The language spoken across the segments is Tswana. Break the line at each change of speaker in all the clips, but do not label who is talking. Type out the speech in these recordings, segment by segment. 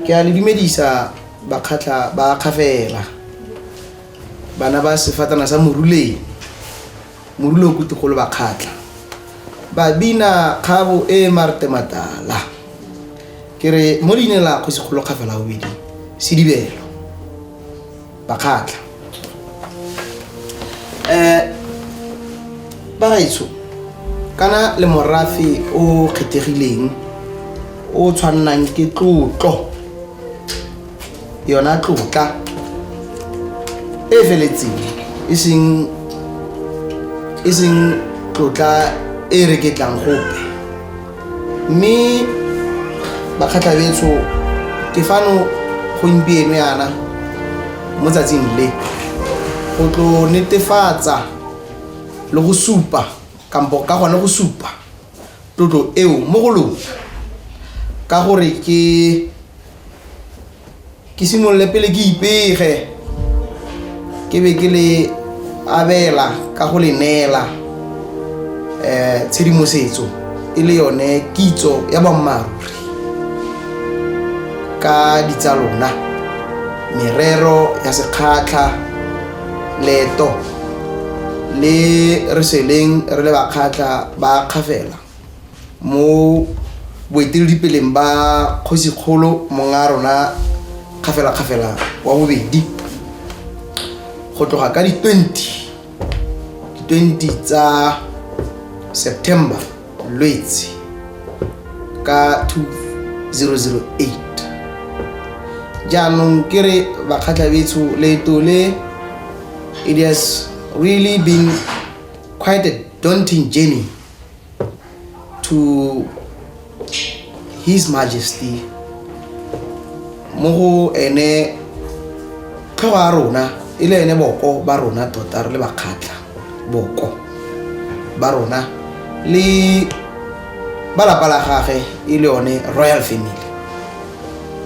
ke a le dumedisa bakgatlha ba kgafela bana ba sefatana sa moruleng morule o kutegolo bakgatlha babina kgabo e marte matala ke re mo leineng la kgosigolo kgafela bobedi sedibelo bakgatlha um bagaetsho kana le morafe o kgethegileng o tshwannang ke tlotlo yona tlotla e e feletseng e seng e seng tlotla e reketlang gope mme bakgatlhabetso ke fano gompieno yana mo tsatsing le go tlo netefatsa le go supa kampo ka gone go supa tlotlo eo mo go lona ka gore ke ke simolole pele ke ipege ke be ke le abela ka go le neela um tshedimosetso e le yone kitso ya boammaaruri ka ditsa lona merero ya sekgatlha leto le re seleng re le bakgatlha ba kgafela mo boeteledipeleng ba kgosikgolo monga rona kgafelakgafela wa bobedi go tloga ka di-20 di-20 tsa september lwetse ka 2008 jaanong ke re bakgatlhabetsho leeto le it has really been quite a daunting journey to his majesty mo go ene tlhogo ya rona e le ene boko ba rona tota re le bakgatlha boko ba rona le ba lapa la gage e le yone royal family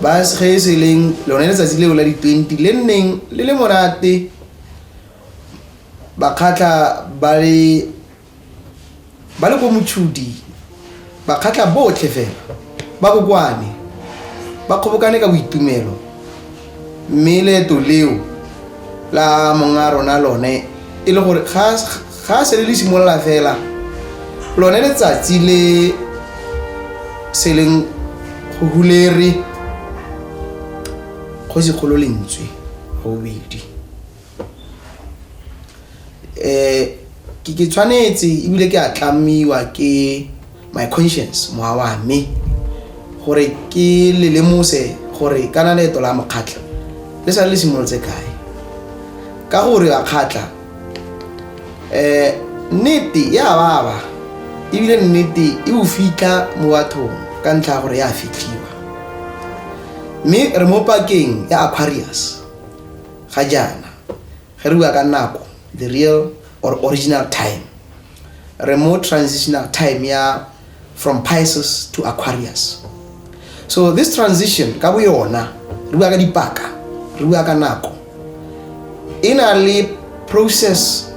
ba ge e se leng lone letsatsi leo la di-twenty le nneng le le monate bakgatlha ba le ba le ko motšhudi ba kgatlha botlhe fela ba kokwane ba kgobokane ka boitumelo mme leeto leo la monga rona lone e le gore ga a sele le simolola fela lone letsatsi le se leng go hulere kgosi kgolo lentswe gobedi Ke tshwanetse ebile ke a tlamiwa ke my conscience mowa wa me gore ke le lemose gore kana leeto la mokgatlha le sa le simolotse kae ka gore a kgatlha um nnete e a baba ebile nnete e o fitlha mo bathong ka ntlha ya gore ya fitlhiwa mme re mo pakeng ya Aquarius. Ga jaana, ge re bua ka nako, the real or original time, re mo transitional time ya from Pisces to Aquarius. So this transition ka boyona, re bua ka dipaka, re bua ka nako, e na le process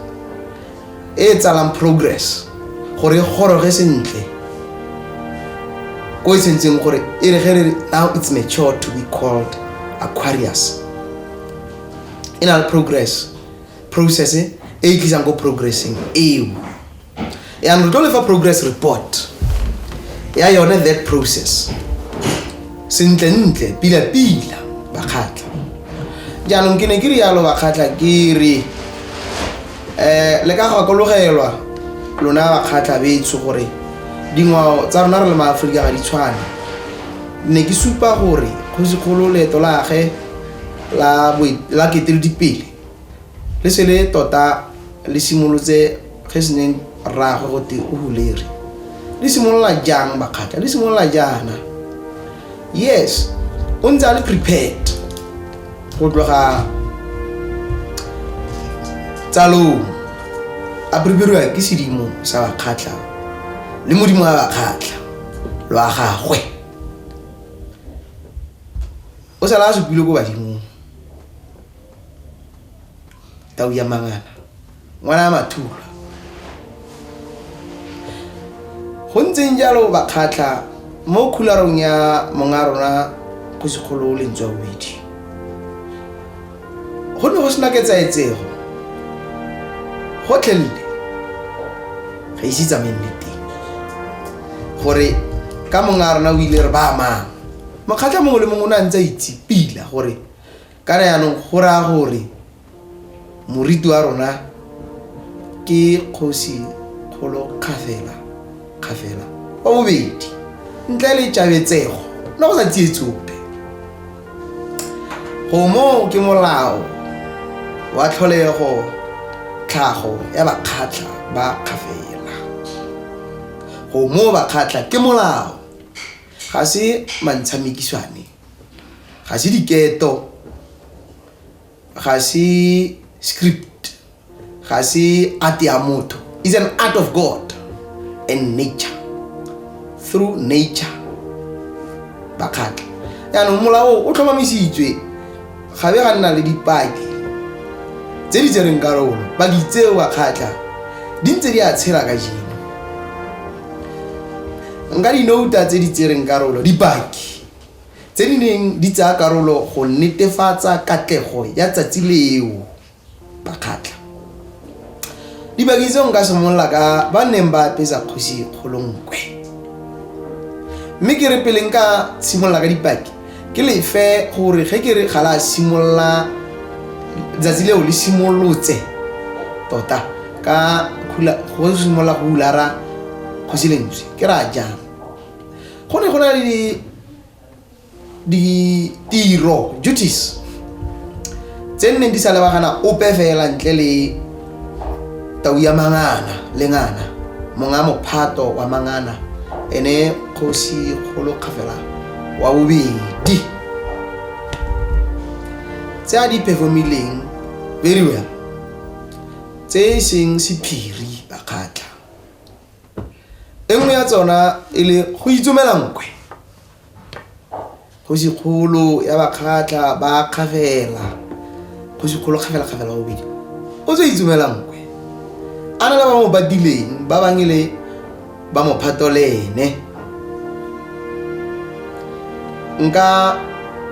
e e tsalang progress gore e goroge sentle ko e tshwanetseng gore e re ge re now it's mature to be called aquarius e na le progress process e e tlisang ko progressing eo yanong re tlo lefa progress report ya yone that process sentlentle pila-pila bakgatlha jaanong ke ne ke rialo bakgatlha ke re um le ka gakologelwa lona bakgatlha betsho gore dingwao tsa rona re le maaforika ga di tshwane ne ke supa gore kgosikgolo leeto lage la keteledipele le se le tota le simolotse ge se neng rraagwe gote o huleri le simolola jang bakgatlha le simolola jaana yes o ntse a le prepared go tloga tsalong a preperiwa ke sedimo sa bakgatlha le modimo wa bakgatlha lwa gagwe o sala a supile ko badimong tau ya mangana ngwana a mathula go ntseng jalo bakgatlha mo khularong ya monga rona go sekgolo o lentswa bobedi go ne go sena ketsaetsego gotlhelele ga ise tsamaye nne teng gore ka monga rona o ile re ba amang mokgatlha mongwe le mongwe o ne a ntse a itsepila gore kana yaanong go raya gore Moriti wa rona ke kgosi kgolo kgafela kgafela wa bobedi ntle le tšabetsego le go sa tsiye tsope gomo ke molao wa tlholego tlhago ya bakgatlha ba kgafela gomo bakgatlha ke molao ga se mantshamekiswane ga se diketo ga se script ga se art ya motho is an art of god and nature through nature bakgatlha yaanong molao o tlhomamisitswe ga be ga nna le dipaki tse di tsereng karolo paki tseo bakgatlha di ntse di a tshela ka jeno nka dinouta tse di tsereng karolo dipaki tse di neng di tsaya karolo go netefatsa katlego ya tsatsi leo. Bakgatla dibaki tseo nka simolola ka ba neng ba apesa kgosi kgolonkwe mme ke re pele nka simolola ka dipaki ke lefe gore ge ke re ga la simolola letsatsi leo le simolotse tota ka go simolola go ulara kgosi lentswe ke ra jang go ne go na le ditiro duties tse nneng di sa lebagana ope fela ntle le tau ya mangana le ngana monga mophato wa mangana ene kgosi kgolo kgafela wa bobedi tse a di performileng very well tse e seng sephiri bakgatla e nngwe ya tsona e le go itsomela nkwe kgosi kgolo ya bakgatlha ba kgafela kgosi kgolo kgafela kgafela wa bobedi o tse itsomela nkwe a na le ba mo badileng ba bang e le ba mo phatolene nka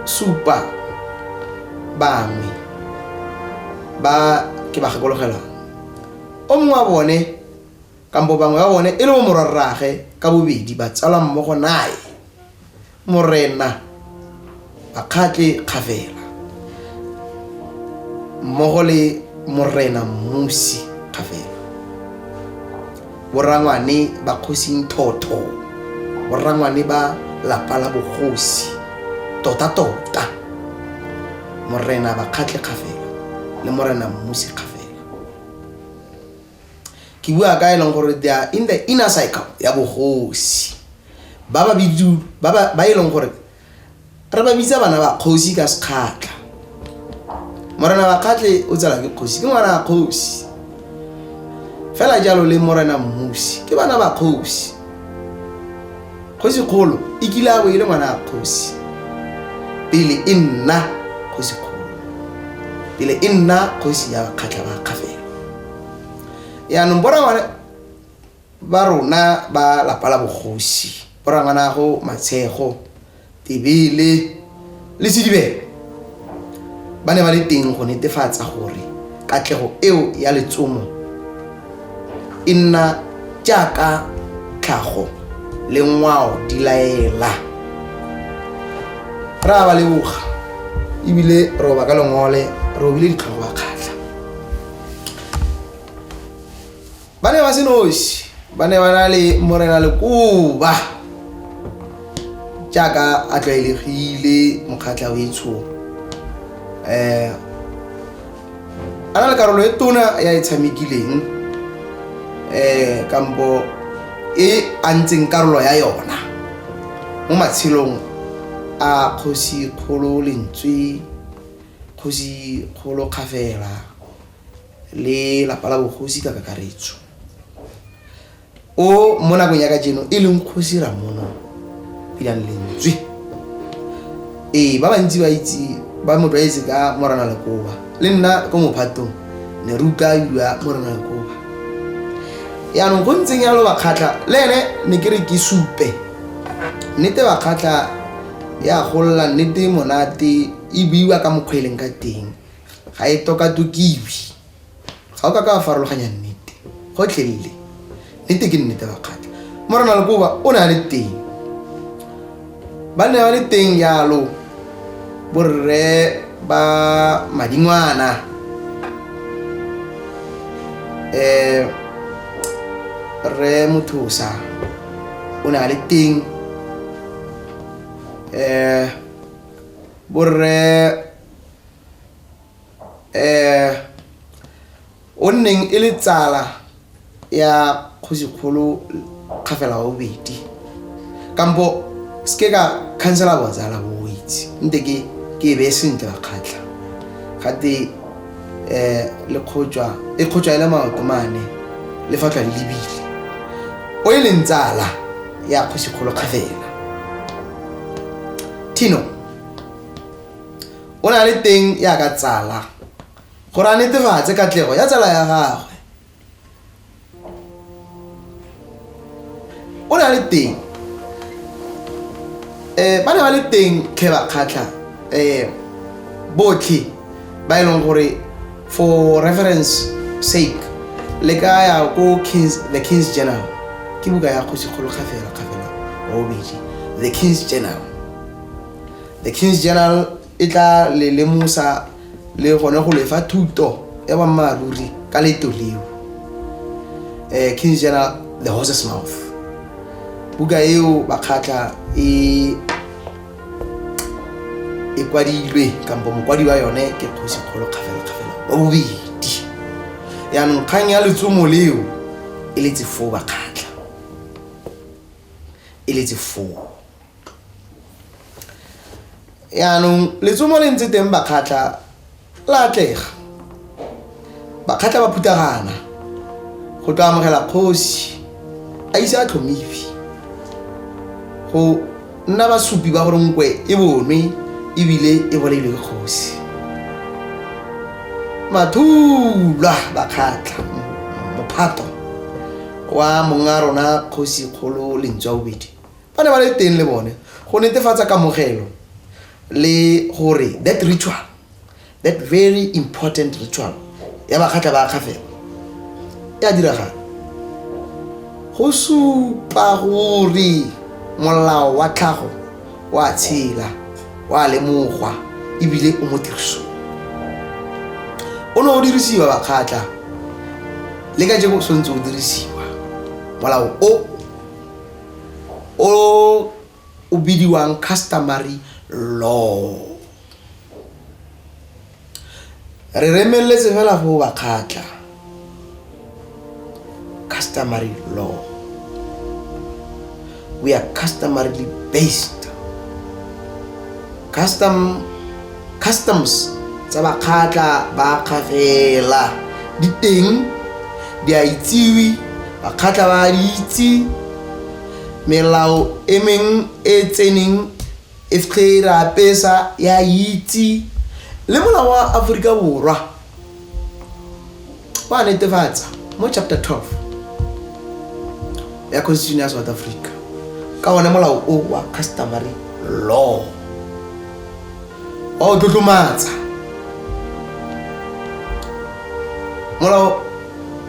supa bangwe ba ke ba gakologelwang o mongwe wa bone kampo bangwe ba bone e le bo morwarraage ka bobedi ba tsalwa mmogo naye morena bakgatle kgafela mmogo le morena mmusi kgafela borangwane ba kgosing thotho borangwane ba lapa la bogosi tota-tota morena bakgatle kgafela le morena mmusi kgafela ke bua ka e leng gore they are in the inner cycle ya bogosi ba ba e leng gore re ba bitsa bana ba kgosi ka sekgatlha morena wa kgatlhe o tsela ke kgosi ke ngwana wa kgosi fela jalo le morena mmusi ke bana ba kgosi kgosi kgolo e kile a bo e le ngwana wa kgosi pele e nna kgosi kgolo pele e nna kgosi ya bakgatlha ba kgafela yaanong borangwane ba rona ba lapa la bogosi borangwanago matshego tebele le sedibelo ba ne ba le teng go netefatsa gore katlego eo ya letsomo e nna jaaka tlhago le ngwao di laela ra ba leboga ebile roba ka lengole robile ditlhogo ba kgatlha ba ne ba se nosi ba ne ba na le morena lekoba jaaka a tlwaelegile mokgatlha o etsho um a na le karolo e tona ya e tshamekileng um kampo e a ntseng karolo ya yona mo matshelong a kgosi kgolo lentswe Kgosi Kgolo Kgafela le lapa la bogosi ka kakaretso. O mo nakong ya kajeno e leng Kgosi Ramono Pilang Lentswe. Ee, ba bantsi ba itse ba mo tlwaetse ka Morana Lekoba. Le nna ko mophatong ne re utlwa bidiwa Morana Lekoba. Yaanong go ntseng yalo Bakgatlha le ene ne ke re ke supe nnete Bakgatlha ya golla nnete monate e buiwa ka mokgwa e leng ka teng ga e tokatokiwe ga o ka ka farologanya nnete gotlhelele nnete ke nnete bakgatla morena lekoba o ne a le teng ba ne ba le teng yalo borre ba madingwana um rre mothosa o ne a le teng um borre eh o nneng e le tsala ya kgosikgolo kgafela wa bobedi kampo se ke ka khansela botsala bo o itse nte ke ke e beye sentle ba kgatlha gate um le kgotswa e kgotswa e le maoto mane le fa tlwa le lebile o e leng tsala ya kgosikgolo kgafela tino o na le teng ya ka tsala gore a netefatse katlego ya tsala ya gagwe o na le teng um ba ne ba le teng tlhe ba kgatlha um botlhe ba e leng gore for reference sake le ka ya ko kings the kings journal ke buka ya kgosikgolo kgafela kgafela wa bobedi the kings journal the kings journal e tla le lemosa le gone go lefa thuto ya bammaaruri ka leto leo um eh, kings journal the horses mouth buka eo bakgatlha e e kwadilwe kampo mokwadi wa yone ke kgosi kgolo kgafelakgafela wa bobedi yaanong kgang ya letsomo leo e letse foo bakgatlha e letse foo yaanong letsomo le ntse teng bakgatlha la atlega bakgatla ba phuthagana go tlo amogela kgosi a ise a tlhomifi go nna basupi ba gore nkwe e bonwe ebile e bolailwe ke kgosi mathulwa bakgatla mophato wa monga rona kgosi kgolo lentswa bobedi ba ne ba le teng le bone go netefatsa kamogelo le gore that ritual that very important ritual ya bakgatlha ba kgafela e a diragala go supa gore molao wa tlhago wa tshela wa lemogwa ebile o mo tiriso o ne o dirisiwa bakgatlha le ka jeko tshwanetse o dirisiwa molao o o o bidiwang customary law re remeletse fela go ba kgatla customary law we are customarily based custom customs tsa bakgatla ba kgafela di teng di a itsiwe bakgatla ba di itse melao e meng e tseneng e fge re apesa ya itse le molao wa aforika borwa wa netefatsa mo chapter 12 ya constitution ya south africa ka one molao o wa customary law wa o tlotlomatsa molao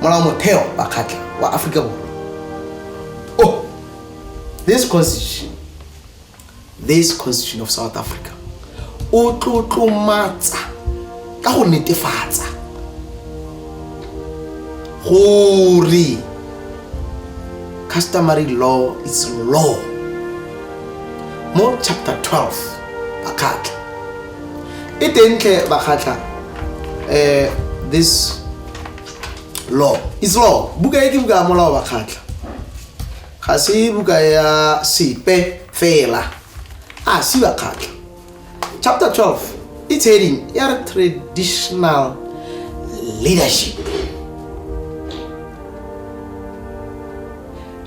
molao motheo wa kgatlha wa aforika borwa Oh, this constitution, this constitution of South Africa, o tlotlomatsa ka go netefatsa gore customary law is law mo chapter 12 bakgatla e tentle bakgatla um eh, this law is law buka e ke buka ya molao wa kgatlha ga se buka ya sepe fela a si ba kgatlha chapter 12 it's heading ya re traditional leadership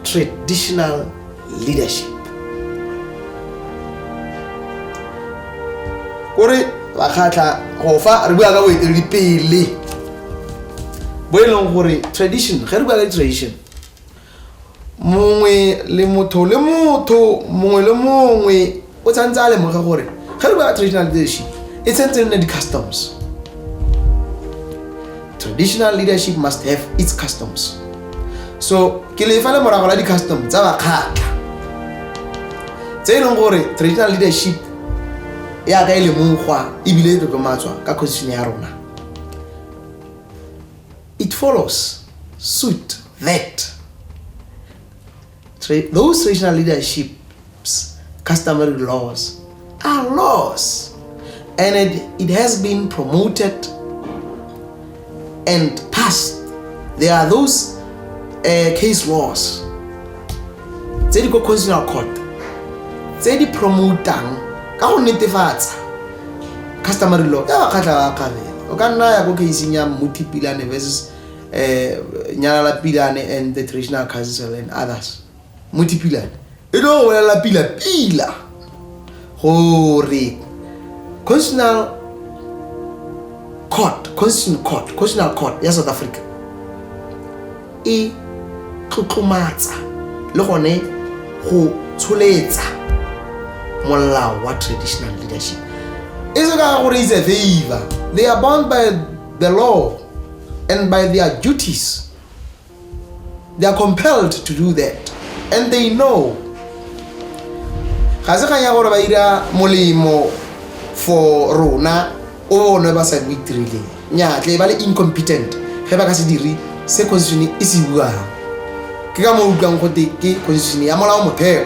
traditional leadership kore bakgatlha go fa re bua ka boeteledipele bo e leng gore tradition ge re bua ka tradition mongwe le motho le motho mongwe le mongwe o tshwanetse a lemoge gore ge re bua traditional leadership e tshwanetse nne di-customs traditional leadership must have its customs so ke lefa le morago la di-custom tsa bakgatla tse e leng gore traditional leadership ya ka e lemogwa ebile e tlotlomatswa ka constitution ya rona it follows suit that Tra those traditional leadership's customary laws are laws. And it, it has been promoted and passed. There are those uh, case laws tse di ko constitutional court tse di promotang ka go netefatsa customary law ya bakgatlha ba kgabela o ka nna ya ko caseng ya mmutipilane versus eh nyalala pilane and the traditional council and others muti pilane e tlo go bolelela pila pila gore constitutional court constitutional court constitutional court ya south africa e tlotlomatsa le gone go tsholetsa molao wa traditional leadership e se ka gore is a favor they are bound by the law and by their duties. They are compelled to do that. And they know. ga se kgang ya gore ba ira molemo for rona o one ba sa bo itirileng nyatle ba le incompetent ge ba ka se dire se constitution e se buang ke ka mo utlwang gote ke constitution ya molao motheo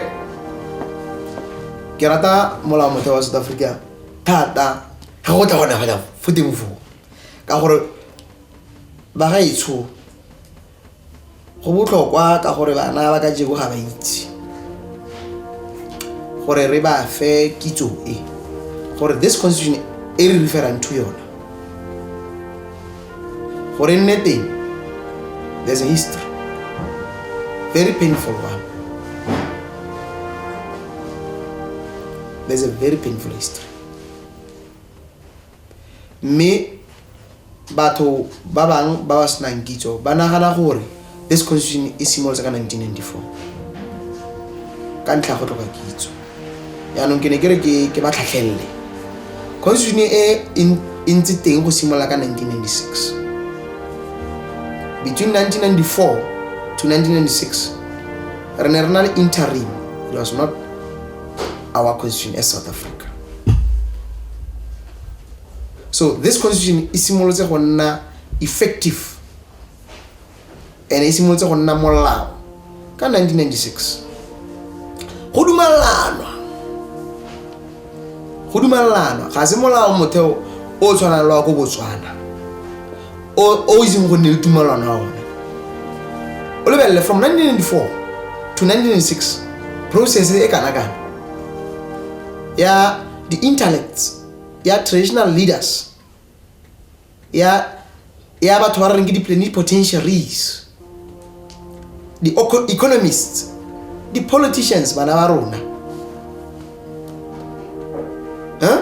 ke rata molao motheo wa south africa thata ga go tla gona fela fo teng foo ka gore ba ga etsho go botlhokwa ka gore bana ba ka jego ga ba itse gore re ba fe kitso e gore this constitution e re referang to yona gore nne teng there's a history very painful one there's a very painful history mme batho ba bangwe ba ba senang kitso ba nagana gore this constitution e simolotse ka 1994 ka ntlha go tlhoka kitso yaanong ke ne ke re ke ba tlhatlhelele constitution e e ntse teng go simolola ka 1996 between 1994 to 1996 re ne re na le interim it was not our constitution as south africa so this constitution e simolotse go nna effective and e simolotse go nna molao ka 1996 go dumalanwa go dumalanwa ga se molao motheo o tshwanang le wa ko botswana o o itseng go nne le tumalano ya one o lebelele from 1994 to 1996 process e kana kana ya di-intellects ya traditional leaders ya ya batho ba re reng ke di-pleni potentiaries di-economists di-politicians bana ba rona huh?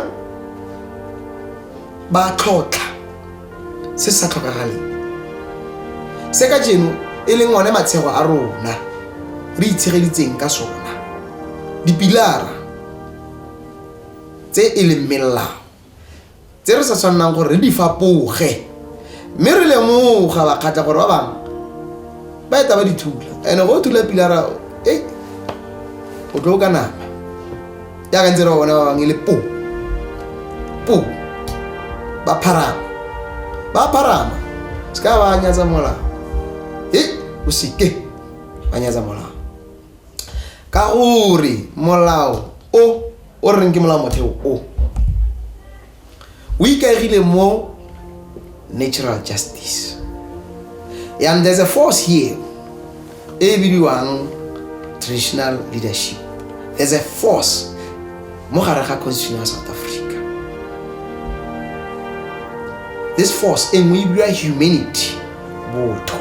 ba tlhotlha se sa tlhokagaleng se ka jeno e leng one matshego a rona re itshegeditseng ka sona dipilara tse e leng melao tse re sa tshwannang gore re di fapoge mme re lemoga bakgatla gore ba bangwe ba eta ba dithula and-e go thula pilara e o tlo ka nama yaka ntse re ba bona ba bangwe e le po po ba pharama ba pharama se ka ba nyatsa molao e o seke ba nyatsa molao ka gore molao o o reng ke molao motheo o o ikaegile mo natural justice and there's a force here e bidiwang traditional leadership there's a force mo gare ga constitution ya south africa this force e nngwe e bidiwa humanity botho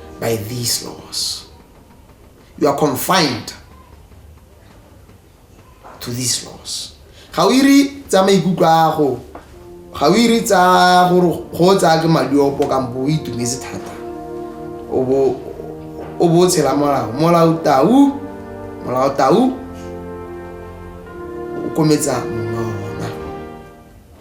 by these laws. You are confined to these laws. Ga o iri tsa maikutlo a go ga o iri tsa gore go tsaya ke madi opo kampo o itumetse thata o bo tshela molao molao tau molao tau o kometsa